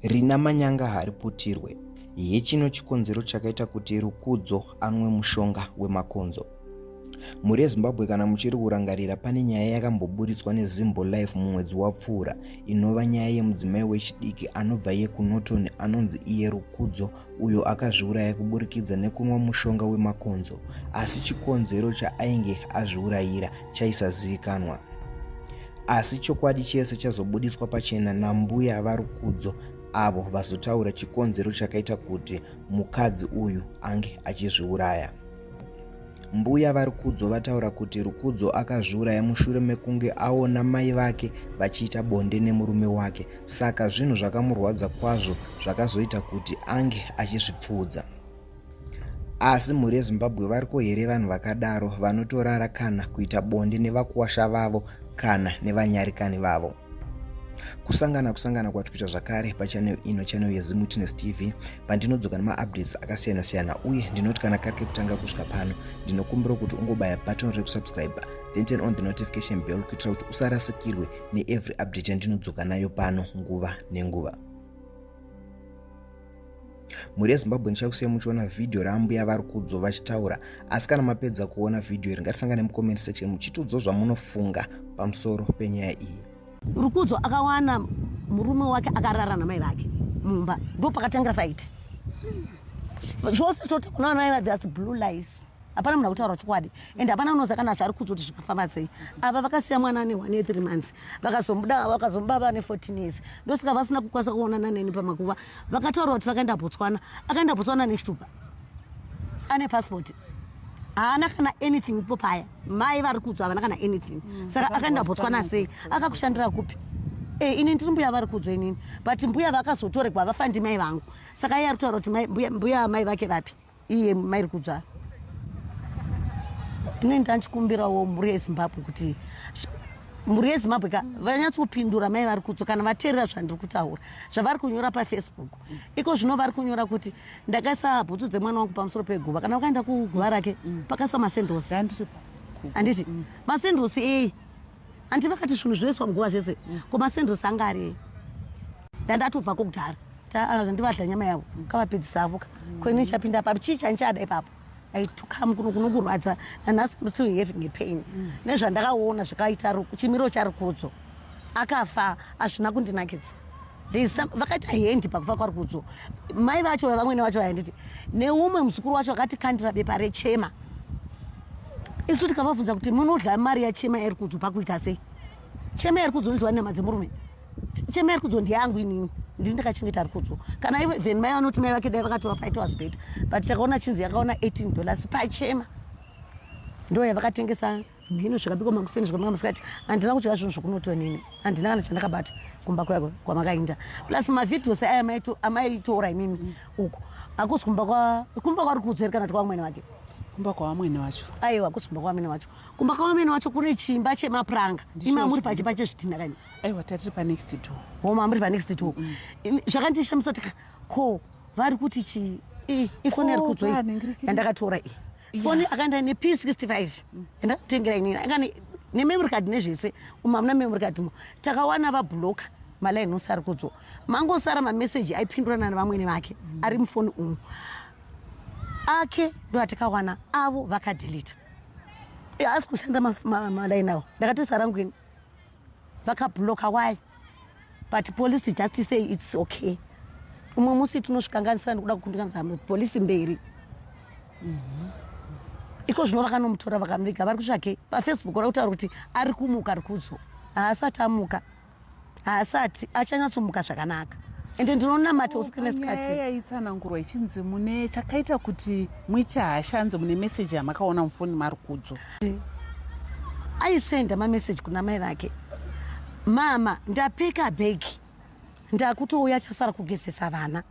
rina manyanga hariputirwe hechino chikonzero chakaita kuti rukudzo anwe mushonga wemakonzo mhuri yezimbabwe kana muchiri kurangarira pane nyaya yakamboburitswa nezimbo life mumwedzi wapfuura inova nyaya yemudzimai wechidiki anobva yekunoton anonzi iye rukudzo uyo akazviuraya kuburikidza nekunwa mushonga wemakonzo asi chikonzero chaainge azviurayira chaisazivikanwa asi chokwadi chese chazobudiswa pachena nambuya varukudzo avo vazotaura chikonzero chakaita kuti mukadzi uyu ange achizviuraya Mbuya vaRukudzo vataura kuti Rukudzo akazviuraya mushure mekunge aona mai vake vachiita bonde nemurume wake saka zvinhu zvakamurwadza kwazvo zvakazoita kuti ange achizvipfuudza asi mhuri yezimbabwe variko here vanhu vakadaro vanotorara kana kuita bonde nevakuwasha vavo kana nevanyarikani vavo kusangana kusangana kwatikuita zvakare pachanel ino chanel yezimutinest tv pandinodzoka nemaupdates akasiyana siyana uye ndinoti kana kari kekutanga kusvika pano ndinokumbira kuti ungobaya button rekusubscribe then turn on the notification bell kuitira kuti usarasikirwe neevery update yandinodzoka nayo pano nguva nenguva mhuri yezimbabwe ndichakusiya muchiona vhidhiyo raambuya vari kudzo vachitaura asi kana mapedza kuona vhidhiyo iri ngatisangane mucomment section muchitiudzawo zvamunofunga pamusoro penyaya iyi rukudzo akawana murume wake akarara namai vake mumba ndo pakatangira faiti zvose toti kuna vanhu vaiva thats blue lice hapana munhu akutaura chokwadi and hapana unoza kana zvari kudzi kuti zvakafamba sei ava vakasiya mwana ane one three months vakazomuda vakazomuba vane fourteen years ndosaka vasina kukwanisa kuonana neni pamakuva vakataura kuti vakaenda botswana akaenda botswana nechitupa ane passport haana kana anything ipo paya mai vari kudzwa havana kana anything mm, saka akaenda botswana sei akakushandira kupi e, ini ndiri mbuya vari kudzwa inini but mbuya vakazotoregwa vafa ndi mai vangu saka iye ari kutaura kuti mbuya mai vake vapi iye mai ri kudzwa ndine ndanchikumbirawo mhuri yezimbabwe kuti mhuri yezimbabwe ka vanyatsokupindura mai vari kudzwa kana vateerera zvandiri kutaura zvavari kunyora pafacebook iko zvino vari kunyora kuti ndakaisa bhutsu dzemwana wangu pamusoro peguva kana ukaenda kuguva rake mm. pakaiswa masendhosi handiti mm. masendhosi eyi handi vakati zvinhu zvinoiswa muguva zvese mm. ko masendhosi anga ari eyi ndandatobva kokudhara ah, ndivadla nyama yavo kavapedzisavoka koini chapinda papo chii chanchada ipapo I took him kuno kunokurwadza and I'm still having a pain. Mm. Nezvandakaona zvakaita chimiro charukudzo. Akafa azvina kundinakidza. vakaita hendi pakufa kwarukudzo mai vacho vamwene vacho vainditi neumwe muzukuru wacho akatikandira bepa rechema isu tikavabvunza kuti munodla mari yachema yarukudzo pakuita sei chema yarukudzo inoitwa nenyama dzemurume chema iri kudzo ndiyangu inini ndiri ndakachengeta ari kudzo kana ivo then mai vanoti mai vake dai vakatova paita was better but takaona chinzi yakaona 18 dollars pachema ndo yavakatengesa mhino zvakabikwa makuseni zvakamanga masikati handina kudya zvinhu zvokunoto nini handina kana chandakabata kumba kwako kwamakainda plus mavideos aya amaitora imimi uko akusi kumba kwa kumba kwari kudzeri kana tikwa mwene wake kumba kwawamwene wacho aiwa kusi kumba kwawamwene wacho kumba kwawamwene wacho kune chimba chemapuranga imamuri pachimba chezvitinha kani aiwa tatiri panext door homa muri panext door mm. zvakandishamisa tika ko vari kuti chii ifoni yari kudzoi yandakatora i foni akaenda ine p 65 yandakutengera inini akane nememory card nezvese umu hamuna memory card mo takawana vabloka malaini ose ari kudzwa mangosara mameseji aipindurana nevamwene vake mm. ari mufoni umu ake ndo atikawana avo vakadilita haasi kushanda malaini avo ndakatoisa rangu ini vakabloka why but police just say its okay umwe musi tinosvikanganisira ndikuda kukundikanisa polisi mberi mhm. iko zvino vakanomutora vakamuviga vari kutsvake pafacebook ora kutaura kuti ari kumuka ari kudzo haasati amuka haasati achanyatsomuka zvakanaka ende ndinonamata usiku nesikati yaitsanangurwa ichinzi mune chakaita kuti muite hasha anzi mune meseji yamakaona mufoni mari kudzo aisenda mameseji kuna mai vake mama ndapeka bhegi ndakutouya chasara kugezesa vana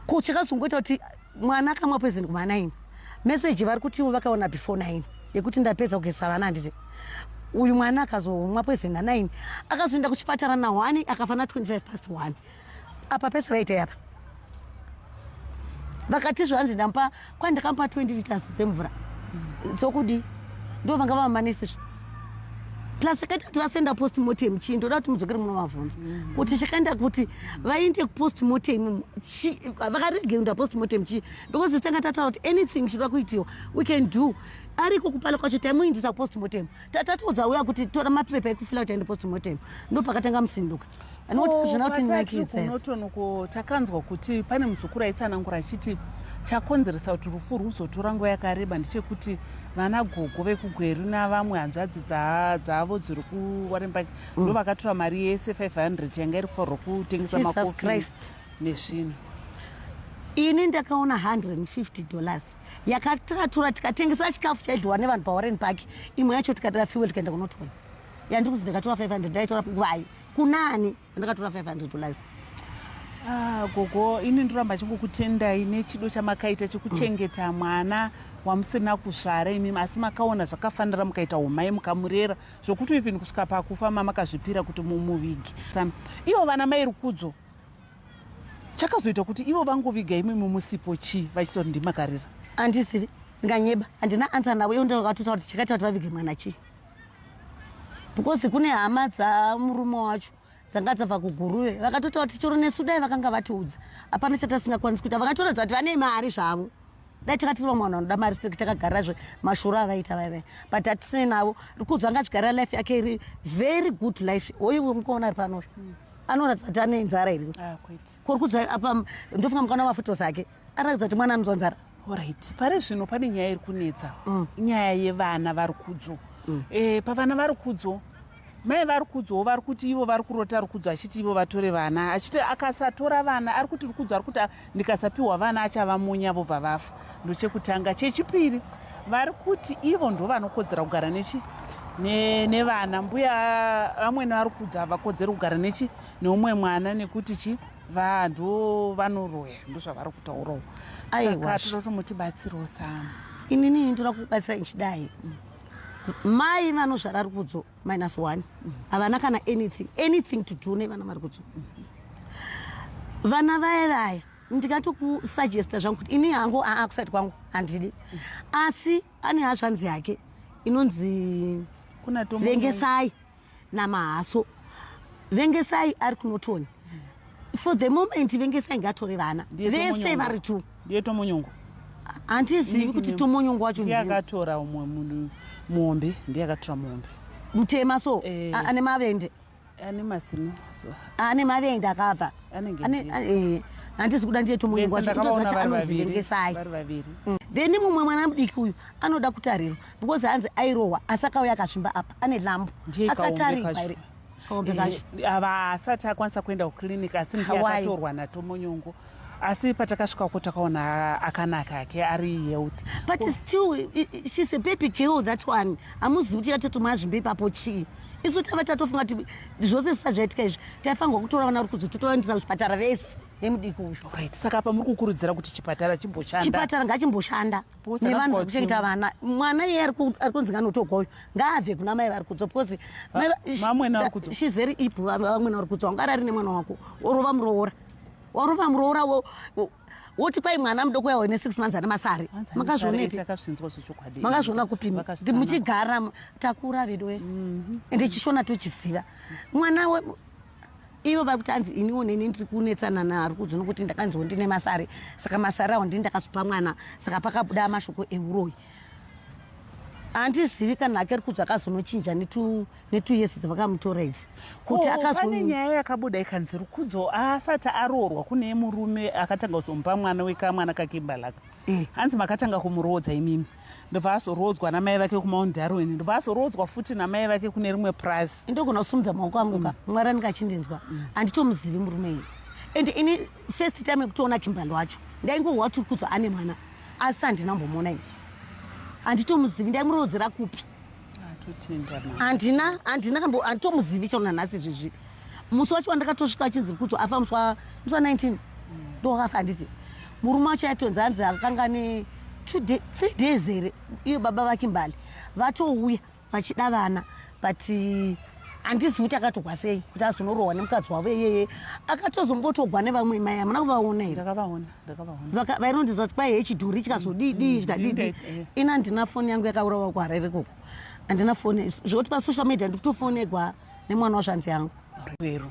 ko chakazongoita kuti mwana akamwa poison kuma nine meseji vari kuti ivo vakaona before nine yekuti ndapedza kugezesa vana handiti uyu mwana akazomwa poison na nine akazoenda kuchipatara na one akafa na 25 past one apa pese vaitei apa vakatizve hanzi ndampa kwai ndakamupa 20 liters dzemvura dzokudii ndo vanga vamamanisizvo plus akaita kuti vasenda post motem chii ndoda kuti mudzokere munovavhunza mm. kuti chakaenda kuti vaende kupost motem vakarege kuenda post motem chii because zitanga tataura kuti anything chinoda kuitiwa we can do ariko kupala kwacho taimuindisa kupost motem tatatiudza uya kuti tora mapepa ekufila kuti aende postmortem ndopakatanga musinduka anotinakidzaonotonoko takanzwa kuti pane muzukuru aitsanangura achiti chakonzeresa kuti rufu rwuzotora nguva yakareba ndechekuti vana gogo vekugweru navamwe hanzvadzi dzavo dziri kuwarenbak mm. ndo vakatora mari yese 500 yanga iri kufarwa kutengesa makofi nezvinhu ini ndakaona 150 dollars yakatakatura tikatengesa chikafu chaidliwa nevanhu pawarren park imwe yacho tikatora fuel tikaenda kunotora yandiri kuzi ndakatora 500 ndaitora ngwai kunani andakatora 500 dollars ah, gogo ini ndoramba chingokutendai nechido chamakaita chekuchengeta mm. mwana wamusina kuzvara imimi asi makaona zvakafanira mukaita umai mukamurera zvokuti even kusvika pakufa mamakazvipira kuti mumuvigi ivo vana mai rukudzo chakazoita kuti ivo vangoviga imwe mumusipo chii vachisa kuti ndimakarira andizivi ndinganyeba handina ansa navo ivo ndovakatotaura kuti chakaita kuti vavige mwana chii because kune hama dzamurume wacho dzanga dzabva kuguruve vakatotaura kuti choro nesu dai vakanga vatiudza hapana chatasingakwanisi kuita vakatoratidza kuti vane mari zvavo dai takatiriva mwana vanoda mari seki takagarira zve mashura avaita vaivai but hatisine navo rikudzwa anga achigarira life yake iri very good life oyo wemukaona ari panoyo anoratidza kuti ane nzara iri ah, kuri kudza apa ndofunga mukana mafutos ake anoratidza kuti mwana anonzwa nzara orit pari zvino pane nyaya iri kunetsa mm. nyaya yevana vari kudzo mm. eh, pavana vari kudzo mai vari kudzowo vari kuti ivo vari kurota rukudzo achiti ivo vatore vana achiti akasatora vana ari kuti rukudzo ari kuti ndikasapiwa vana achava munya vobva vafa ndochekutanga chechipiri vari kuti ivo ndovanokodzera kugara nechi nevana mbuya vamwene vari kudza havakodzeri kugara nechi neumwe mwana nekuti chi vanhu vanoroya ndozvavari kutaurawo saka tinotomutibatsirawo samu inini ndinoda kubatsira ichidai mai vanozvara rukudzo minus one havana kana anything anything to do nevana vari kutsu vana vaya vaya ndikatokusuggesta zvangu kuti ini hangu aa kusati kwangu handidi asi ane hazvanzi yake inonzi vengesai namahaso vengesai ari kunotoni for the moment venge sai ngatore vana vese vari two ndiye tomonyongo handizivi kuti tomonyongo wacho ndiye akatora umwe muhombe ndiye akatora muhombe mutema so eh. ane mavende ane masino ane mavende akabva eh. handisi kuda ndiye tomonyongo wacho ndozati anonzi venge sai mm. then mumwe mwana mudiki uyu anoda kutarirwa because hanzi airohwa asakauya akazvimba apa ane lambo akatarikwa kaombe kacho ava asati akwanisa kuenda kuclinic asi mbuya akatorwa natomonyongo asi patakasvika ko takaona akanaka ake ari health but Ko... still she's a baby girl that one hamuzivi kuti yatotumwa zvimbe ipapo chii isu tava tatofunga kuti zvose zvisa zvaitika izvi taifanirwa kutora vana uri kuzi totovaendesa kuzvipatara vese nemudiki uyu right saka apa muri kukurudzira kuti chipatara chimboshanda chipatara ngachimboshanda nevanhu vari kuchengeta vana mwana iye ari kunzi nganotogwa uyu ngaabve kuna mai vari kudzwa because shes very ip vamwena vari kudzwa ungarari nemwana wako orova muroora orova muroora woti kwai mwana mudoko yawo ine six months ane masari makazviona kupi muchigara takura veduwe mhm. ende chishona tochiziva mwana ivo vari kuti anzi iniwo neni ndiri kunetsana naari kudzo nokuti ndakanziwo ndine masare saka masare awo ndini ndakasupa mwana saka pakabuda mashoko euroyi handizivi kana ake ri kudzo akazonochinja netuyesi dzavakamutora idzi kuti akapane nyaya yakabuda ikanzi ri kudzo asati aroorwa kune murume akatanga kuzomupa mwana wekamwana kakimbalaka eh. hanzi makatanga kumuroodza imimi ndobva azoroodzwa namai vake kumount darwin ndobva azoroodzwa futi namai vake kune rimwe purazi ndogona kusumudza maoko angu ka mm. mwari anenge achindinzwa mm. handitomuzivi mm. murume iyi and ini first time yekutoona kimbali wacho ndaingohwa tiri kudzwa ane mwana asi handina mbomuona ini handitomuzivi ndaimuroodzera kupi handina handina kambo handitomuzivi chero nanhasi izvizvi musi wacho wandakatosvika achinzi rikudzo afa musi wa 19 mm. ndokafa handiti murume wacho aitonzi hanzi akanga ne three days here iyo baba vake mbali vatouya vachida vana but handizivi kuti akatogwa sei kuti azonorohwa nemukadzi wavo iyeye akatozombotogwa nevamwe mai hamuna kuvaona here Vaka- vainondiziva kuti kwaive chidhori chikazodii dii chikadii dii ini handina foni yangu yakaurawa kuharare koko handina foni zvekuti pasocial media ndikutofonegwa nemwana wazvanzi yangu rwero